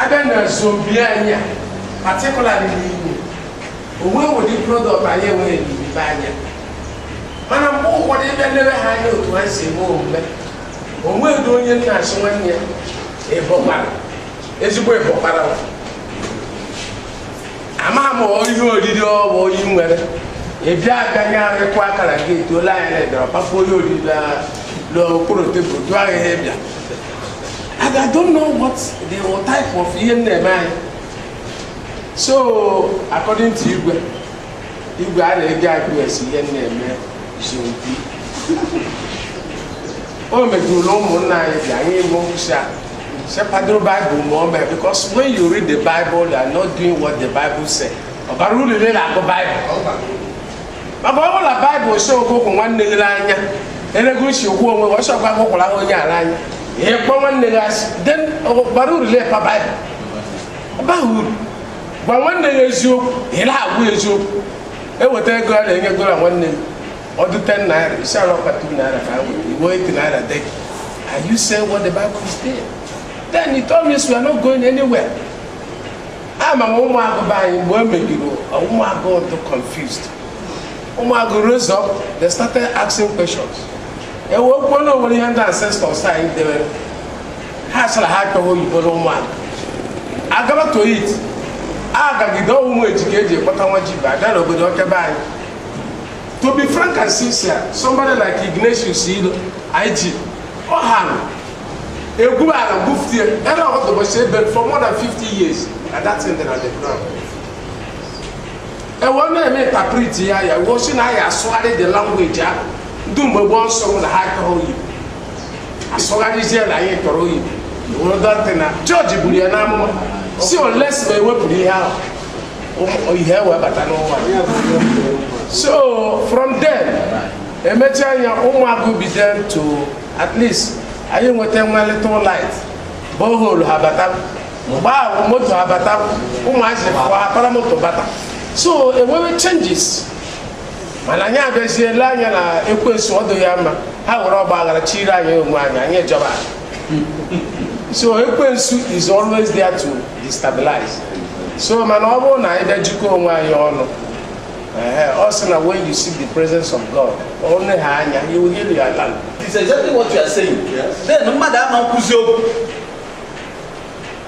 abịa na nsobi anyị a particularly n'igbo onwe ụdị prodọkt anyị enweghị n'ime anya mana mgbe ụfọdụ ị bịa lebe ha anya otu ha si eme omume onweghị onye na-asị nwanne ya ịbọkwara ezigbo ịbọkwara ama m ihe oriri ọwụ oyi nwere ị bịa abịanye arịkụ akara gị etuola anya na ịbịara kpafụ ihe oriri n'okpuru tebụl jụọ anyị ihe ị bịa and I don't know what the type of ihe na-eme anyị so according to igwe igwe a na-eji akụ esi ihe na-eme isompi o mejụrụ ụmụnna anyị ji anyị ime nkwụsị a sị kwadoro baịbụl ma o mee because when you read the bible you are not doing what the bible say ọ bara uru ile na-agụ baịbụl maka ọ bụrụ na baịbụl sị gị hụ nwanne gị n'anya elego i si hụ onwe gị ọsọ gwa gụkwara ha onye ala anya ị kpọ nwanne gị asị then ọ bara uru lepa baịbụl ọ baghị uru gwa nwanne ya eziokwu ị na-agwa eziokwu eweta ego a na-enye gola nwanne ya ọ dị 10 naira ị sị ya na ọ bụ 2 naira ka ha were i were 8 naira debe and you say what the bible is there then he told me we are not going anywhere ama m ụmụagụ be anyị mgbe o megiri ụmụagụ dị confused ụmụagụ rose up they started asking questions e wee kwuo na onwere ihe ndị ancestors anyị debere ha sịrị ha achọghị oyibo n'ụmụagụ agaba toit agagide ọnwụnwa eji ka eji ekpọta nwa ji ba abịa n'obodo nke be anyị to be frank and sincere somebody like ignatius ilo IG ọ ha na-egwu ala gwufuta ya ebe ọ dọbọchi ebe for more than 50 years na that thing dị na the ground e wee na-eme interpret ya ya wee sị na ya asụgharị the language ahụ ndị mgbe gboo sụ na ha achọghị oyibo asụgharịzie na anyị chọrọ oyibo I think na George buru ya n'amụma sị unless ma ewepụrụ ihe ahụ ihe wee bata n'ụwa so from then emechaa ya ụmụagụ bido to at least anyị enwetawa little light borehole abata mgbe ahụ moto abata ụmụazị kwa akpara moto bata so enwewe changes mana anyị abịazie ele anya na ekwensu ọ dị ya mma ha were ọgba aghara chịrị anyị onwe anyị anyị ejọba so ekwensu is always there to destabilize so mana ọ bụrụ na anyị bịa jikọọ onwe anyị ọnụ ọ sị na when you seek the presence of God onye ha anya you will heal your land. It's exactly what you are saying. Yes. Then mmadụ ama ekwuzi okwu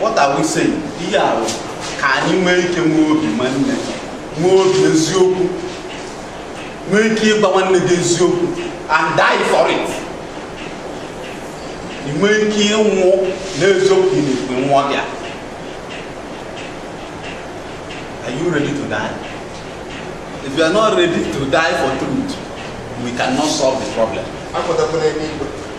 What are we saying? Ihe a bụ ka anyị nwee ike nwee obi nwanne, nwee obi eziokwu, nwee ike ịgwa nwanne gị eziokwu and die for it. Ị nwee ike ịnwụ n'eziokwu ị na-ekwu nwụọ gị a. Are you ready to die? If you are not ready to die for truth, we cannot solve the problem. Akpọtakwala ebe igwe.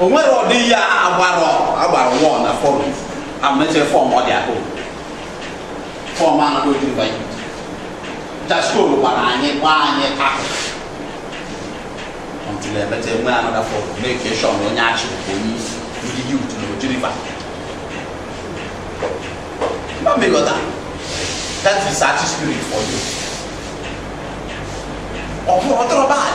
o nwere ọdị ihe agbara agbara one forum amechere forum ọ dị ahụ forum anaghị otu mba ibu just call gbara anyị gbaa anyị ahụ ọtụrụ emecha enwe another forum make sure onye Achi bụ onye isi ndị youth na Oji River mba mmekọta that is Achi spirit for you ọ bụrụ ọtọrọ bad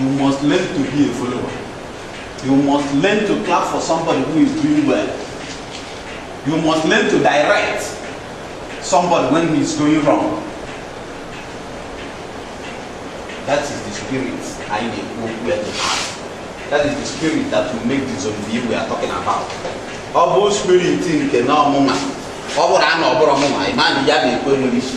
You must learn to be a follower. You must learn to clap for somebody who is doing well. You must learn to direct somebody when he is going wrong. That is the spirit I need we all to have. That is the spirit that will make the zoning we are talking about. Ọ bụ spirit nke na ọmụma ọ bụrụ a na ọ bụrụ ọmụma ịma na ya na-ekwe nwere isi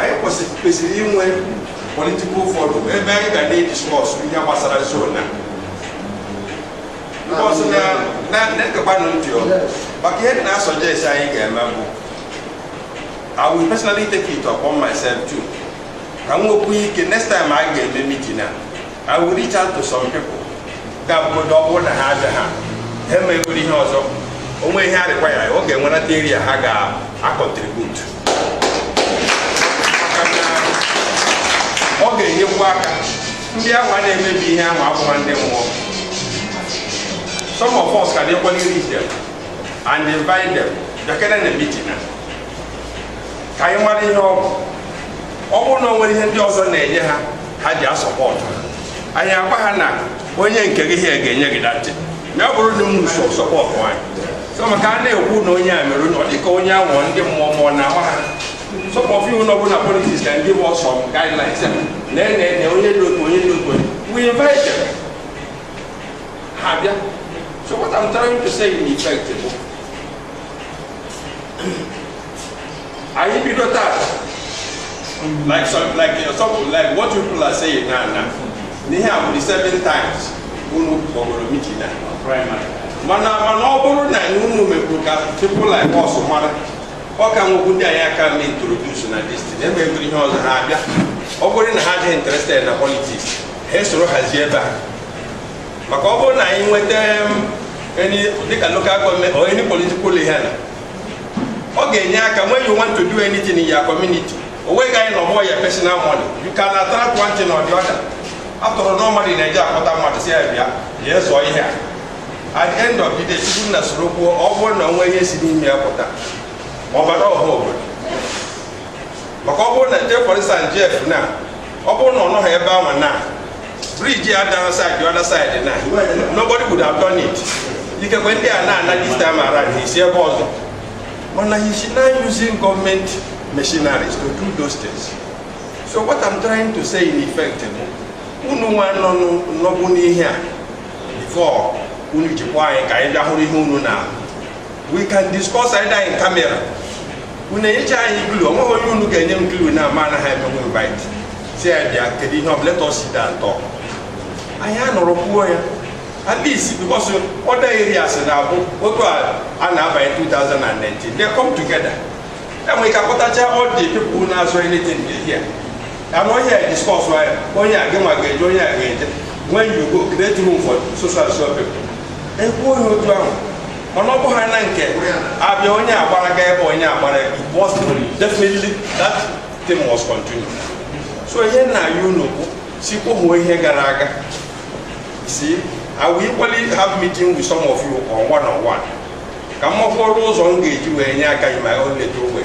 anyị kwesịrị kwesịrị inwe political forum ebe anyị ga na-ediscuss ihe gbasara zone a Because na na na-egekwanụ ntị ọ maka ihe dị na-asuggest anyị ga-eme bụ I will personally take it upon myself too ka m nwekwu ike next time anyị ga-eme meeting a I will reach out to some people ga-abụgodo ọ bụrụ na ha abịa ha ha emeghịgoro ihe ọzọ o nwee ihe arịkwa ya ọ ga-enwerata area ha ga-acontribute ọ ga-enyekwu aka ndị ahụ a na-emebi ihe anwa abụhọ ndị mmụọ some of us can equally reach them and invite them bịakene na meeting a ka anyị mara ihe ọ bụ ọ bụrụ na o nwere ihe ndị ọzọ na-enye ha ha ji asupport anyị agwa ha na onye nke gị ihe ga-enye gị that na ọ bụrụ na unu so support anyị so maka a na-ekwu na onye a mere ọ dịka onye a wụ ndị mmụọ mmụọ na ama ha some of unu bụ na politics can give us some guidelines ya na ene ene onye dị otu onye dị otu onye we invite ha bịa so what I'm trying to say in effect bụ anyị bido taa like some like uh, some like what you people are saying now now n'ihe a bụ the seven times unu kpọgoro mitin a mana mana ọ bụrụ na unu mekwuru ka people like us mara ọ ka nwekwu ndị anyị aka na introduce na this thing emegoro ihe ọzọ ha abịa ọ bụrụ na ha dị interested na politics ha esoro hazie ebe a maka ọ bụrụ na anyị nweta um, any dịka local government or any political ihe na ọ ga-enye aka when you want to do anything in your community o nweghị anyị na ọ bụ your personal money you can attract one thing or the other after all normally a na-eji akpọta mmadụ sị ya bịa ya zọọ ihe a at the end of the day people na-esoro kwuo ọ bụrụ na o nwee ihe si n'ime ya pụta ma ọ baara ọha obodo maka ọ bụrụ na take for instance Jeff now ọ bụrụ na ọ nọghị ebe ahụ now bridge a dara side other side now nobody would have done it ikekwe ndị a na-ana this time around ha esi ebe ọzọ mana he is now using government machineries to do those things so what i'm trying to say in effect bụ unu nwa nọ nụ- nọbụ n'ihe a before unu jikwa anyị ka anyị bịa hụrụ ihe unu na we can discuss either in camera unu enyecha anyị clue onweghị onye unu ga-enye m clue now ama anaghị emenwe invite sị ya bịa kedu ihe ọbụla let us sit down and talk anyị anọrọ kwuo ya at least because other areas na-abụ otu a a na-abanye 2019 they come together enwere ike akpọtacha all the people na-azọ anything there anụ onye a discuss ya onye a gị nwa ga-eje onye a ga-eje when you go create room for so so and so people ekwuo ya otu ahụ mana ọ bụghị na nke a bịa onye agbara ga ebe onye agbara ebe it was definitely that thing was continued so ihe m na-ayọ unu bụ sị kwohuo ihe gara aga si I will equally have meeting with some of you on one on one ka m makwuru ụzọ m ga-eji wee nye aka in my own little way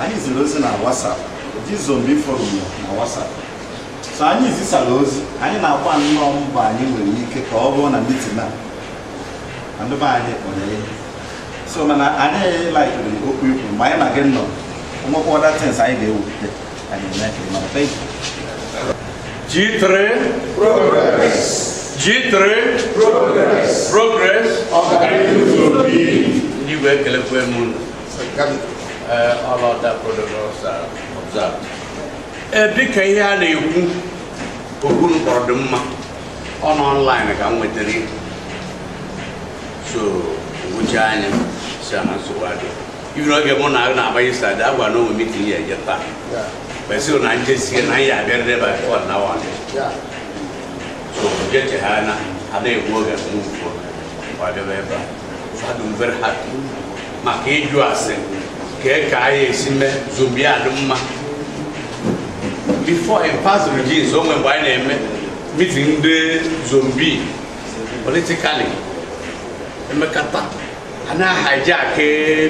anyị ziri ozi na WhatsApp ji zombi forum na WhatsApp so anyị zisara ozi anyị na-agba nnọọ mbọ anyị nwere ike ka ọ bụrụ na mitin a na ndị be anyị kpọrọ ihe so mana anyị laikiri okwu i kwu ma anyị na gị nọ nwekwa other things anyị ga-ewepụta anyị eme ka ịmara thank you G3 Progress. G3 Progress. Progress. Ọganihu zuru oke. ndị igwe ekelekwa m unu dịka ihe a na-ekwu okwu kpọrọ dị mma ọ n'online ka m nwetara so m gụchaa ya sị na nsogbu adị ibi n'oge mụ na na-abanye stadị a gwara na e nwe mitin ya eje taa kwesịrị na njesie na anyị abịarịrị ebe a fọd na wan so jechegha na ada egbu oge mgbe ugbu a bịaba ebe a maka ịjụ ase ka e ka anyị esi mee zone B adị mma before in past regimes o nwe mgbe anyị na-eme mitin ndị zone B politically emekata a na-hijack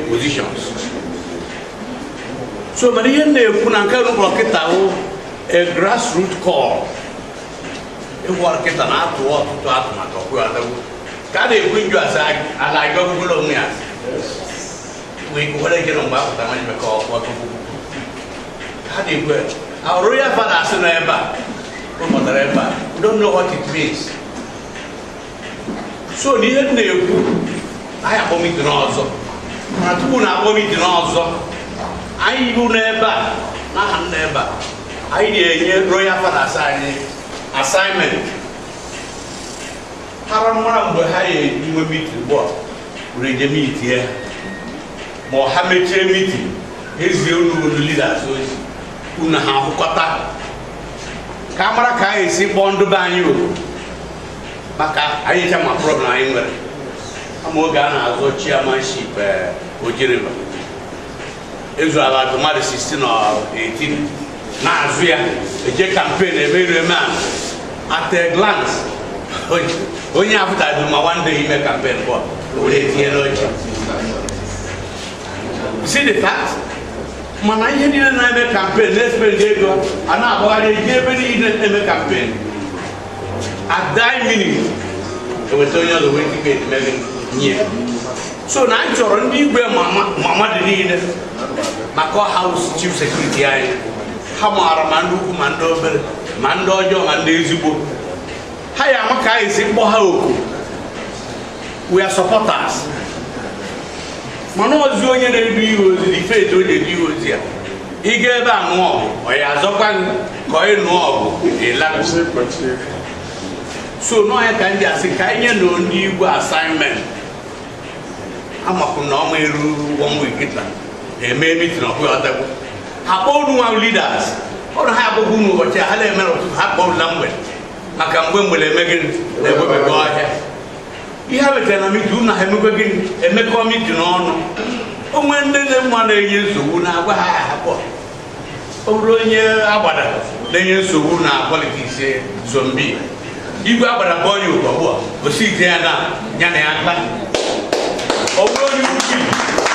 positions so mana ihe na-ekwu na nke rụkọrọ kịta a grassroots call ịgwọ ọrụ kịta na-atụ ọtụtụ atụmatụ ọkụ adagbu ka a na-ekwu njọ asa ala aga ogologo onwe ya wee kwukwara ike na mgbe apụta nwa ime ka ọkụ ọkụkụ ha na-ekwu our royal fathers n'ebe a ụmụtara ebe a don't know what it means so na ihe m na-ekwu anyị akpọ mitin ọzọ mana tupu na akpọ mitin ọzọ anyị bụ n'ebe a n'aha m n'ebe a anyị enye royal fathers anyị assignment ha amara mgbe ha ya-enwe mitin bọọlụ were je mitin ya ma ha mechie mitin ezie unu unu leaders ozi unu ha ahụkọta ka a mara ka anyị esi kpọọ ndị be anyị oku maka anyị ncha ma problem anyị nwere ama oge a na-azọ chairmanship eh, ojiriba ezu ala mmadụ 16 or 18 na-azọ ya eje kampen eme iru eme a at a glance onye- onye apụtaghị ma one day ime kampen bọ were tinye n'oche see the fact mana ndị niile na-eme kampen na-espend ego a na-agbagharị eje ebe niile na-eme kampen at die minute e weta onye ọzọ wee dịka edemede nye so na anyị chọrọ ndị igwe ma mmadụ niile maka ọ ha wụ chief security anyị ha maara ma ndị ukwu ma ndị obere ma ndị ọjọọ ma ndị ezigbo ha ya-ama ka anyị si kpọ ha oku we are supporters mana ozi onye na-edu ihe ozi na ife etu o na-edu ihe ozi ya ị ga ebe a ṅụọ ọ ya azọkwa gị ka ọ ịnụ ọgụ ịlapụsị so na ọ ya ka m ji asị ka anyị nye ndị igwe assignment amakwa m na ọ ma eru one week kịta eme mitin ọkụ ya ọdagwu ha kpọọ unu nwa leaders ọrụ ha abụghị unu ụbọchị a ha na-emere ụtụtụ ha kpọọ na mgbede maka mgbe mgbede eme gịnị na-egbebego ọhịa ihe ha wetara na mitin unu ha emekwa gịnị emekọ mitin ọnụ o nwe ndị unu ma na-enye nsogbu unu agwa ha ha akpọọ ọ bụrụ onye agbada na-enye nsogbu na politiks zombi igwe agbada bụ onye ụkọ bụ osi ite ya na ya na ya mkpa ọ bụrụ onye uchi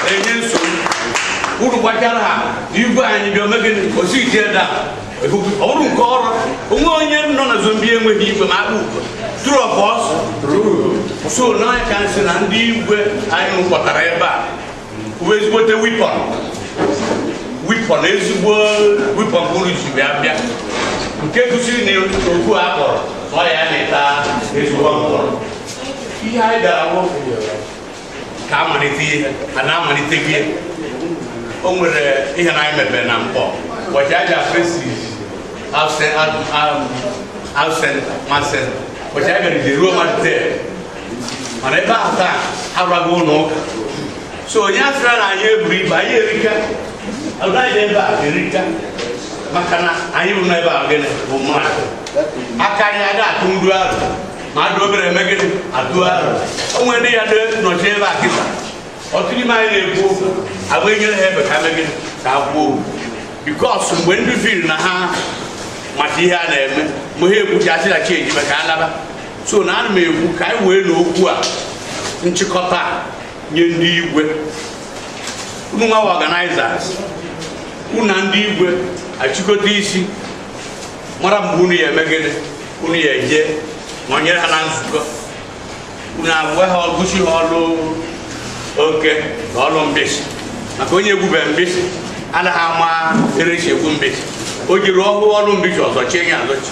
na-enye nsogbu uru gbachara ha igwe anyị bịa omegị osi ite ya na ọ bụrụ nke ọrụ onwe onye nọ na zombi enweghị igwe ma akpa ugo true or false so now ka m sị na ndị igwe anyị kpọtara ebe a uwe ezigbote wipọn wipọn ezigbo wipọn bụrụ ji bịa bịa nke gosiri na ofu a kpọrọ ọ ya na-eta ezigbo mkpụrụ ihe anyị bịara wụ ka amalite ihe a na-amalite gị o nwere ihe na anyị mebere na mkpọ ụbọchị aja present absent absent masent ụbọchị anyị bịara ije ruo mmadụ tel mana ebe ahụ taa agwago unu ụka so onye asịra na anyị eburu ibu anyị erika anyị ebe a erika maka na anyị bụ n'ebe a gịnị bụ mmadụ aka anyị ada atụ ndụ arọ mmadụ obere eme gịnị atụ arọ o nwere ndị ya dị nọchi ebe a kịta otu n'ime anyị na-ekwu okwu agba enyere ha ebe ka eme gịnị ka ha kwuo okwu because mgbe ndị feel na ha mata ihe a na-eme mgbe ha ekwuchi achịlachi ejibe ka a laba so now ana m ekwu ka anyị wee na okwu a nchịkọta a nye ndị igwe unu nwa organizers unu na ndị igwe achịkọta isi mara mgbe unu ya eme gịnị unu ya eje ma ọ nyere ha na nzukọ unu agwa ha gosi ha ọlụ oke na ọlụ mbịsị maka onye egwube mbịsị anaghị ama ere esi egwu mbịsị o jeri ọ hụ ọlụ mbịsị ọ zọchie ya azọchi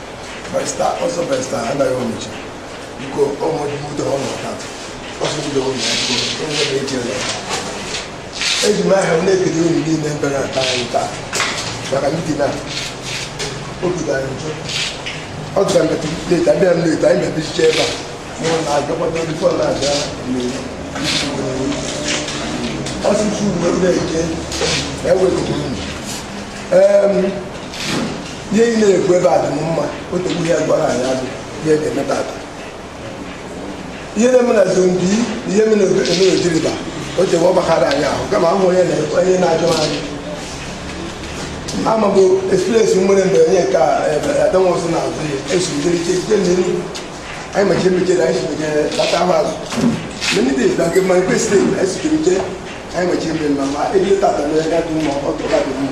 barista ọsọ barista anaghị ọnịcha biko ọmụdịmụta ọnụ ọkatụ ọsọ ndị ụlọ akwụkwọ onye bụ eji ụlọ eji m aha m na-ekele unu niile mbere ata anyị taa maka meeting na obi gara njọ ọ gara mmetụ leta abịa m leta anyị mebichicha ebe a mụrụ na agakwana ndị fọn na-abịa ọsụsụ uwe na-eje ewepụrụ unu ihe ị na-ekwu ebe a dị mma otegbu ihe gwara anyị adị ihe ga-eme tata ihe na-eme na zombi na ihe mere ojiriba o jewe ọ gbakara anyị ahụ kama ahụ onye na-onye na-ajụ anyị ama bụ experience nwere mgbe onye nke adanwụsị na azụ ya esujeriche site n'iru anyị mechie mechere anyị sujere bata ahụ azụ many days na nke mmanụ kwesịrị anyị sujeriche anyị mechie mmemme ma ebe tata na ya dị mma ọ tụrụ adị mma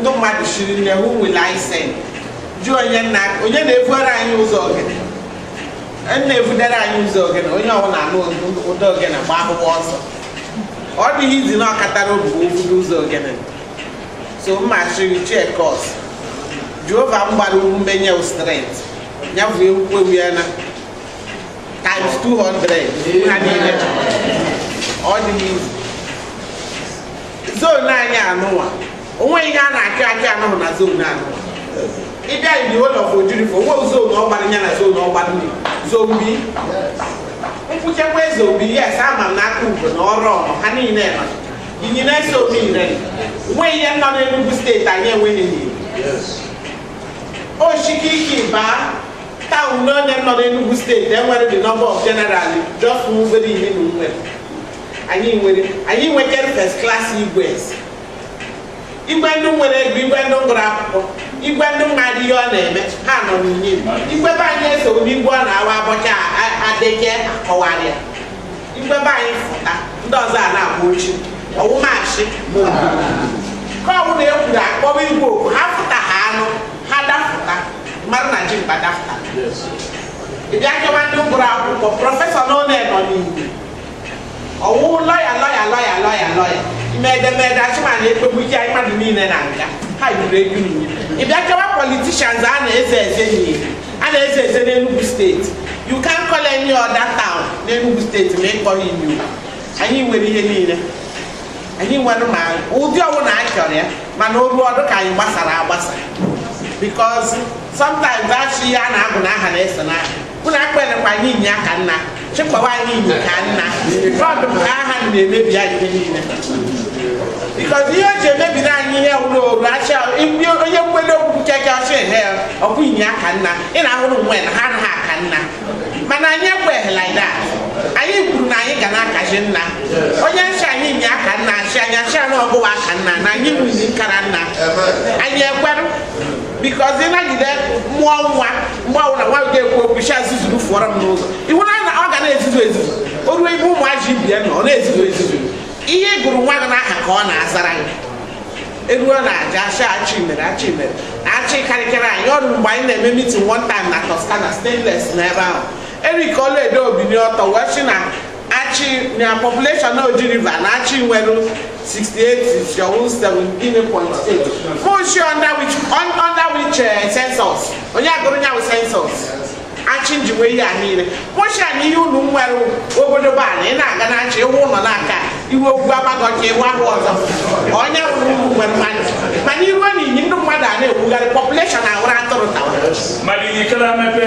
ndị mmadụ sịrị nne who will I send jụọ onye nna onye na-ebuere anyị ụzọ ogene na-ebudere anyị ụzọ ogene onye ọbụla nụ ụda ogene gbakwuo ọsọ ọ dịghị easy na ọkatara obi obodo ụzọ ogene so mma sịrị chekọs jehova m gbara ume nye strength ya bụ ekwukwe ewu ya na times 200 ha niile ọ dịghị easy zone anyị anụwa onwe ihe a na-akị akị anụhụ na zone anụwa ịbịa ndị ụlọ bụ Oji River o nwe zone ọgbara ya na zone ọgbara ndị zombi nkwụchekwa ezobi yes ama m n'aka ugo na ọrụ ọnụ ha niile ma Inyi na-eso obi ire nwe ihe nọ n'Enugu steeti anyị enweghị n'Inyi oshikiki baa town n'one nọ n'Enugu steeti nwere the number of general just nwere ihe na nwere anyị nwere anyị nwekere first class igwes igwe ndị nwere ego igwe ndị gụrụ akwụkwọ igwe ndị mmadụ ihe ọ na-eme ha nọ n'Inyi igwe be anyị eso obi igwe ọ na-awa abọcha adeke akọwara ya igwe be anyị fụta ndị ọzọ a na-agba ochi ọwụmachị ma obodo ka ọbụla e kwuru akpọwa igwe oku ha fụta ha anụ ha dafụta mmadụ na ji mkpa dafụta ị bịa chọwa ndị gụrụ akwụkwọ prọfesọ n'one nọ n'Inyi ọ wụ lọya lọya ime edemede achịma na ekpegbu ike anyị mmadụ niile na nga ha yiri egwu n'Inyi ị bịa chọwa politicians a na-eze eze n'Inyi a na-eze eze n'Enugu steeti you can't call any other town n'Enugu steeti ma ị kpọha Inyi anyị nwere ihe niile anyị nwere ma ụdị ọbụla a chọrọ ya mana o ruo ọ dị ka anyị gbasara agbasa because sometimes a sị ihe a na-agụ n'aha na-eso n'aha unu akpọlekwa anyị Inyi aka nna sịkwawa anyị Inyi ka nna ọ dị ka aha na-emebi anyị ihe niile because ihe o ji emebiri anyị ihe wụrụ o ruo a sị onye nkwele okwu nke gị ọ sị ehe ọkwa Inyi aka nna ị na-ahụrụ nwe na ha anaghị aka nna mana anyị ekweghị like that anyị kwuru na anyị ga na-akarị nna onye sị anyị Inyi aka nna achị anyị achị anụ ọgụwa aka nna na anyị nwunye nkara nna anyị ekwerụ because ịnagide mụọ nwa mgbe ọbụla nwa ga-ekwu okwu sị ya zuzuru fụọrọ m n'ụzọ iwu na na ọ ga na-ezuzu ezuzu o ruo ime ụmụazị ibe ya na ọ na-ezuzu ezuzu ihe ị gụrụ nwa gị n'aha ka ọ na-azara gị e ruo na aja Achị Achị mere Achị mere na Achị karịkịrị anyị o ruo mgbe anyị na-eme mitin one time na Toscana stainless n'ebe ahụ Eric Oluedo o binie ọtọ wee sị na achị na population Oji River na achị nwere 68 jọwụ 17.8 mụ shị under which un- under which eh, census onye gụrụ ya bụ census achị nji nwee ihe a niile mụ shị ya na ihe unu nwere obodo bụ ala ị na-aga na achị iwu ụlọ n'aka iwu ogwu amaghị ọcha iwu ahụ ọzọ ọ nya bụ na unu nwere mmadụ mana iwe na Inyi ndị mmadụ a na-ekwugharị population awụrụ atụrụ tawara mmadụ ikere mepe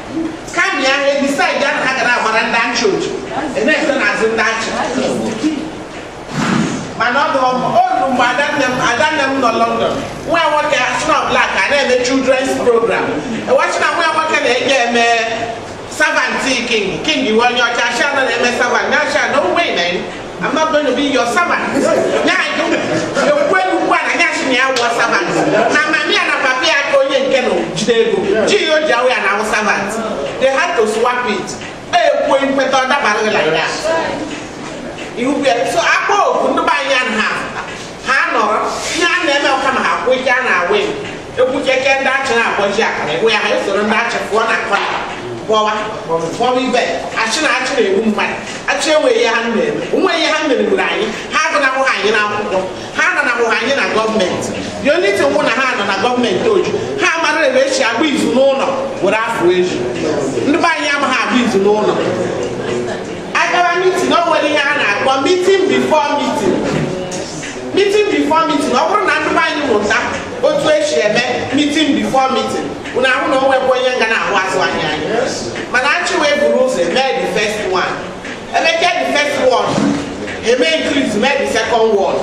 kami ya ebi saịdị ahụ ha gara agbara ndị achị otu na-ese n'azụ ndị achị mana ọ bụ olu mgbe adanne m adanne m nọ London nwa nwoke a so na black a na-eme children's program e wee shị na nwa nwoke na-eje eme servant king king iwe onye ọcha a shị na ọ na-eme servant nya shị no way na I'm not going to be your servant. Nya ajụ ekwe ugbu a na nya sị na ya wụọ servant. Na mami ya na papi ya ka onye nke na jide ego. Ji ya o ji awụ ya na-awụ servant. They had to swap it. Ekwe nkweta ọ dabaghị like that. Ihu bịa so akpọ oku ndị be anyị anaghị afụ. ha nọrọ ihe a na-eme ọ kama ha kwụ ike a na-awụ egwu keke ndị achị na-akpọji akara egwu ya ha esoro ndị achị pụọ na kọna kpọwa kpọwa ibe a shị na achị na-egbu mmadụ achị enweghị ihe ha na-eme o nweghị ihe ha mere gburu anyị ha agụnahụghị anyị n'akwụkwọ ha ananahụghị anyị na gọọmenti the only thing wụ na ha nọ na gọọmenti oju ha mara ebe e shi agba izu n'ụlọ were apụ ezi ndị be anyị amaghị agba izu n'ụlọ a gara mitin o nwere ihe a na-akpọ mitin bifo mitin mitin bifo mitin ọ bụrụ na ndị be anyị mụta otu e si eme mitin bifo mitin unu ahụ na o nwekwa onye nga na-ahụ azụ anyị anya mana achị wee buru ụzọ mee the first one e mechaa the first one e mee increase mee the second one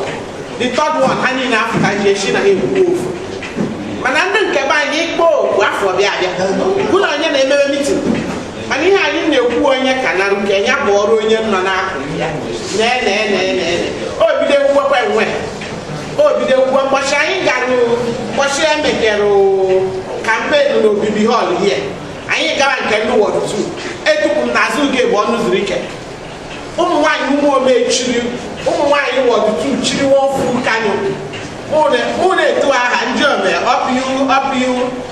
the third one ha niile afụta ji echi na ha ekwu ofu mana ndị nke be anyị ị kpọọ oku afọ bịa abịa bụ na onye na-emebe mitin mana ihe anyị na-ekwu onye ka na nke ya bụ ọrụ onye nọ n'akụ ya o bido ekwuwekwa enwe o bido ekwuwe mgbọchị anyị gara mgbọchị ya mekere kampenu na obibi họl hie anyị gara nke ndị wọd tu etupu m n'azụ uge be Ọnụzuruike ụmụ nwaanyị Ụmụome chịrị ụmụ nwaanyị wọd tu chịrị nwa ofu kanyụ mụ na-etu aha ndị ome ọpịu ọpịu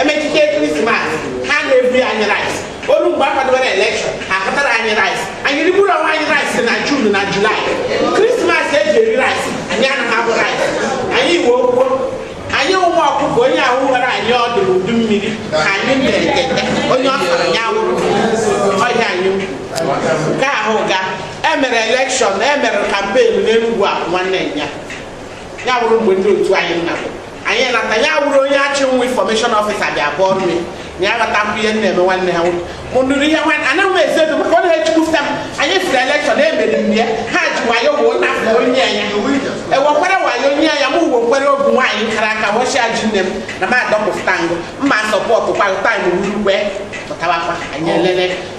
e mechite krismas ha na-ebu ya anyị rice olu mgbe a kwadobere elekshọn afụtara anyị rice anyị rigburu onwe anyị rice na jun na julaị krismas e ji eri rice anyị anaghị abụ rice anyị iwe okwu anyị ụmụ ọkụkọ onye awụwara anyị ọdụ n'udu mmiri ka anyị na-ekete onye ọ sọrọ ya wụrụ ọhịa anyị ukwu. nke ahụ ga e mere elekshọn e mere kampen n'enugwu a nwanne ya ya wụrụ mgbe ndị otu anyị nna anyị nata ya wụrụ onye achị nwa infọmeshọn ọfịsa bịa bụọ ọrụ ya na ya ghọta mkpụ ihe nna eme nwanne ha nwoke mụ nụrụ ihe nwanne anaghị m ezi ego maka ọ na-ejikwuta m anyị firi elekshọn emere m ya ha ji wayo woo nafụ onye anya ewekwere wayo onye anya m uwe nkwere ọ bụ nwaanyị kara aka wọchịa ji nne m na m adọpụta ngụ mma sọpọtụ kwa taim wuru wee pụtawakwa anyị elele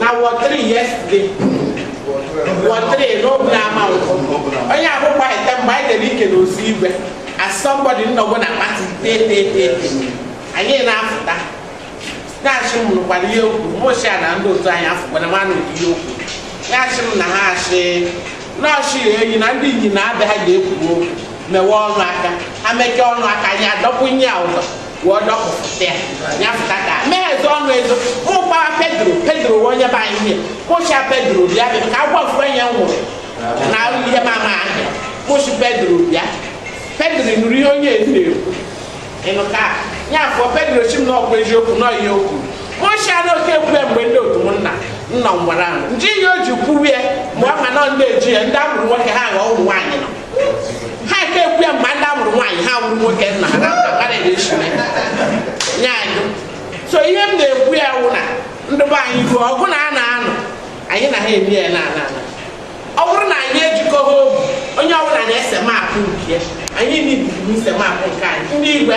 na ward three yesterday ward three n'obi ama nkwụ onye ahụ gbaghịta mgbe anyị dere ike na ozu igwe as somebody nnọgbu na pati teteteete anyị na-afụta na-achị m nụkwara ihe okwu mụchia na ndị otu anyị afụkwara ma nụrụ ihe okwu na-achị m na ha achị nọọsụ ya eyi na ndị inyi na-abịa ha na-ekwu okwu mewe ọnụ aka ha mechaa ọnụ aka anyị adọkwunye ya ụdọ wụọ dọpụta ya ya fụta ka mee ezo ọnụ ezo mụ gbawa pedro pedro wee onye be anyị ihe kpụcha pedro bịa bịa ka agwa ofu onye m nwụrụ na ihe m ama ahịa kpụchi pedro bịa pedro nụrụ ihe onye ezi na-ekwu ịnụ ka ya afọ pedro chi m na ọkwa eziokwu na ihe okwu mụcha na oke kwue mgbe ndị otu m nna nna m gwara m nji ihe o ji kwuwe ma ọ ma na ndị eji ya ndị amụrụ nwoke ha ghọọ ụmụ nwaanyị nọ ha ka ekwu ya mgbe ndị amụrụ nwaanyị ha wụrụ nwoke nna ha na-akpara eshime nye anyị so ihe m na-ekwu ya wụ na ndị be anyị ruo ọgụ na a na-anụ anyị na ha eme ya na ana ana ọ bụrụ na anyị ejikọghị obi onye ọbụla na-ese maapụ nke anyị na-ebibi ise maapụ nke anyị ndị igwe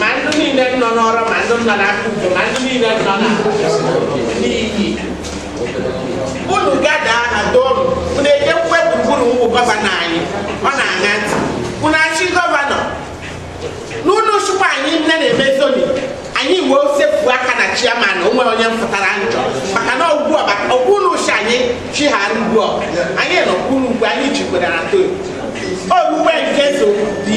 ma ndị niile nọ n'ọrụ ma ndị nọ n'aka udo ma ndị niile nọ na n'iyi unu gada na donu unu ejekwukwe gburugburu ụmụ gọvanọ anyị ọ na-aṅa ntị unu achị gọvanọ na unu chụkwa anyị nne na-eme zoning anyị wee sefu aka na chiaman onwe onye mfụtara njọ maka na ọgwụ ọba ọgwụ unu uche anyị chighara ugbu ọba anyị nọ kwuru ugwu anyị jikwere na to owuwe nke zo dị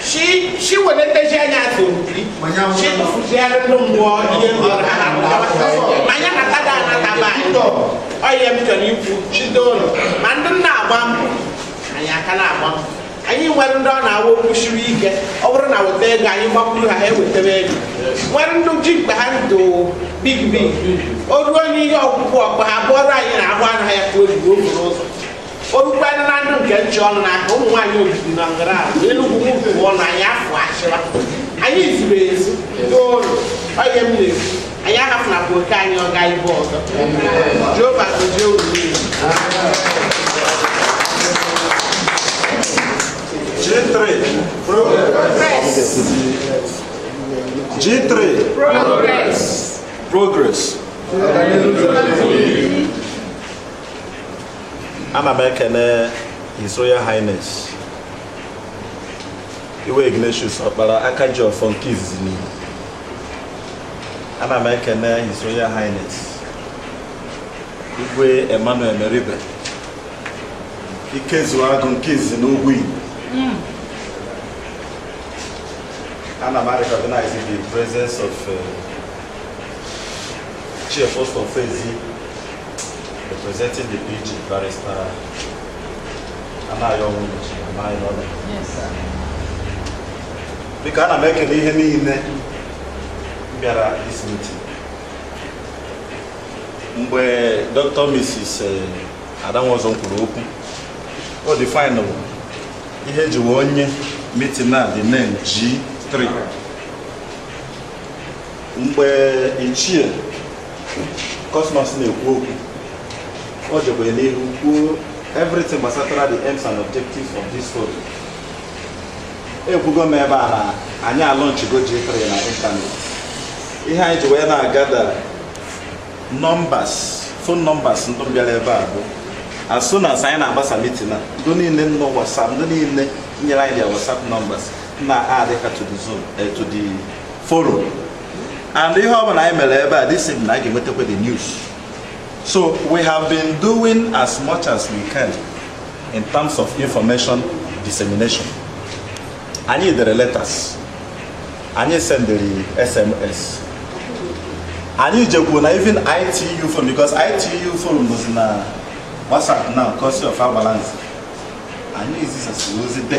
shi shi wani ta shi anya so bi shi ta fu shi ara no mo ye mo ha ha ta ba so ma nya na ta da na ta ba to o ye mi to ni fu shi do no ma ndị na-agba mbọ anyị ka na-agba mbọ anyị nwere ndị ọ na-awa okwu siri ike ọ bụrụ na weta ego anyị gbakwuru ha ha ewetebe ego nwere ndị ji mkpa ha ndụ big big o ruo n'ihe ọgwụgwụ ọkpa ha bụọrọ anyị na ahụ anaghị ya ka o ji ruo n'ụzọ o rukwanụ na ndụ nke nche ọnụ n'aka ụmụ nwaanyị obibi na ngara ahụ enugwu m pụọ na anyị afọ achịwa anyị zuru ezu n'ụlọ ọ ya m na-ekwu anyị ahafụnakwa oke anyị ọ gaa ebe ọzọ jehova gozie unu niile G3. G3. Progress. Progress. ana m ekene His Royal Highness Igwe Ignatius Ọkpara aka ji ọfọ nke izizi n'ihu ana m ekene His Royal Highness Igwe Emmanuel Meribe Ikezuo Agụ nke izizi n'ugwu Igbo hmm. ana m recognize the presence of uh, Chief Christopher Ezi Representing the PG barrister Anayo Nwunchi, Anayo Ọla. Yes, sir. Biko ana m ekene ihe niile mbịara this meeting. Mgbe Dr. Mrs. Adanwozo kwuru okwu, o definerụ ihe e ji wee nye meeting a the name G3. mgbe ichie Cosmas na-ekwu okwu o jekwa n'ihu kwuo everything gbasatara the aims and objectives of this forum ekwugo m ebe a na anyị alọnchigo G3 na internet ihe anyị ji wee na-agada numbers phone numbers ndị bịara ebe a bụ as soon as anyị na-agbasa meeting a ndị niile nọ WhatsApp ndị niile nyere anyị their WhatsApp numbers na-add ha to the zone eh, to the forum and ihe ọ bụla anyị mere ebe a this evening anyị ga-enwetakwa the news so we have been doing as much as we can in terms of information dissemination anyị dere letters anyị sendịrị sms anyị jekwuo na even ITU forum because ITU forum nọzi na whatsapp now courtesy of our balance anyị zisasịrị ozi de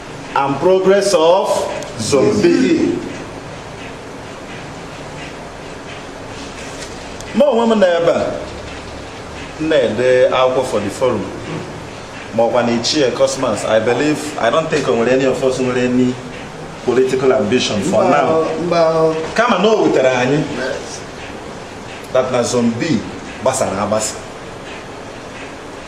and progress of Zone B. mụ onwe m nọ ebe a na-ede akwụkwọ for the forum ma ọkwanụ ichie cosmas i believe i don't think o nwere any of us nwere any political ambition for now kama na o wutere anyị that na zone B gbasara agbasa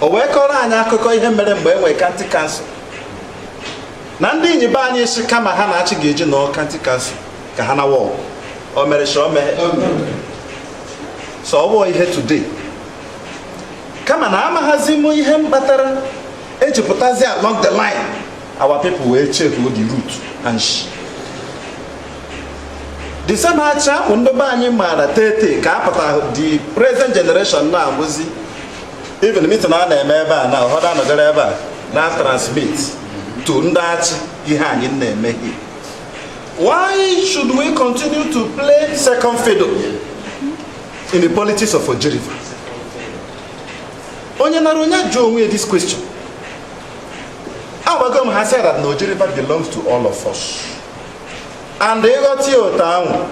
o wee kọrọ anyị akụkọ ihe mere mgbe e nwere county council na ndị Inyi be anyị sị kama ha na Achi ga-eji nọọ county council ka ha nawa Awgu o mere sọ mee sọ ọ ihe today kama na amaghazi m ihe mkpatara e ji pụtazi along the line our people wee check the root and see the same Achi bụ ndị be anyị maara tete ka a pụta the present generation na-abụzi even mitin a na-eme ebe a na ụfọdụ anọgara ebe a na transmit to ndị Achi ihe anyị na-eme here why should we continue to play second fiddle in the politics of Oji River onye nara onye jụọ onwe ya this question agwago m ha said that na Oji River belongs to all of us and ị ghọta ya otu ahụ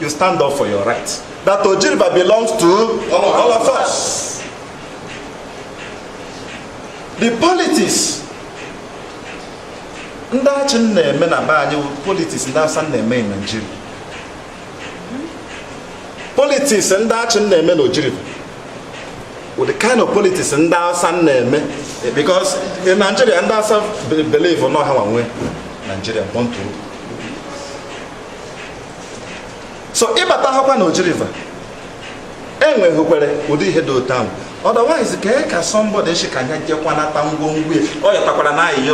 you stand up for your right that Oji River belongs to all of us the politics ndị Achi na-eme na be anyị politics ndị Hausa na-eme na Naịjirịa politics ndị Achi na-eme na Oji River with the kind of politics ndị Hausa na-eme because in Nigeria ndị Hausa believe na ọ ha nwe Nigeria born to so ị bata hakwa na Oji River enweghịkwere ụdị ihe dị otu ahụ otherwise kee ka somebody sị ka nya jekwanata ngwongwo ọ yọtakwara na ahịhịa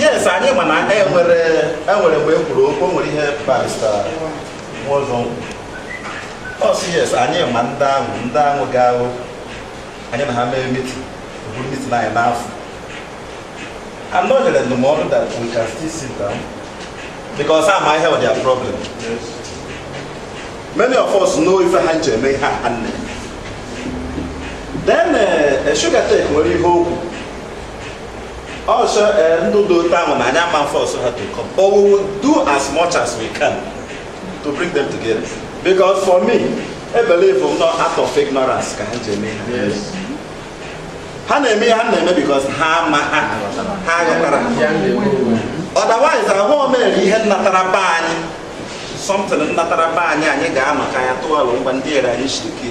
yes anyị ma na enwere enwere mgbe e kwuru okwu o nwere ihe barista Nwaọzọ kwuru. ọ sị yes anyị ma ndị ahụ ndị ahụ ga-ahụ anyị na ha mee mitin buru mitin anyị n'afọ anọ nyere ndụmọdụ that we can still sit down because a ma ihe were their problem many of us know ife ha ji eme ihe a ha na-eme then eh, sugar tech nwere ihe o kwu ọ sị eh, ndị dị otu ahụ na anyị ama force ha to come but we will do as much as we can to bring them together because for me I believe m not out of ignorance ka ha ji eme ihe ha na-eme ihe ha na-eme because ha ma ha ha ghọtara otherwise ahụ omere ihe nnatara be anyị something nnatara be anyị anyị ga maka ya tụọ alo ngwa ndị ere anyị shiriki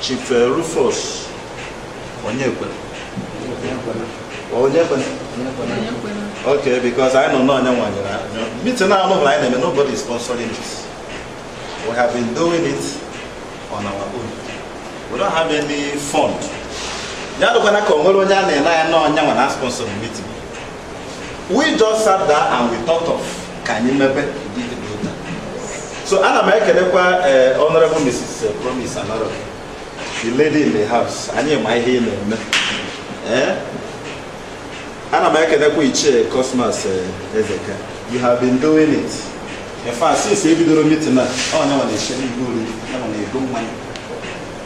Chief eh, Rufus Onyekwena Onyekwena okay because I know na ọ nyanwa nyere meeting na anụ anyị na-eme nobody is sponsoring this we have been doing it on our own we don't have any fund ya adịkwana ka o nwere onye a na-ele anya na ọ nyanwa na sponsor meeting we just sat down and we thought of ka anyị mebe so ana m ekelekwa eh, honorable mrs eh, promise anaro the lady in the house anyị ma ihe ị na-eme eh? ana m ekelekwa ichie cosmas ezeka you have been doing it in fact since e bidoro meeting a ọ nyanwa na-esi nri ọ nyanwa na-ego mmanya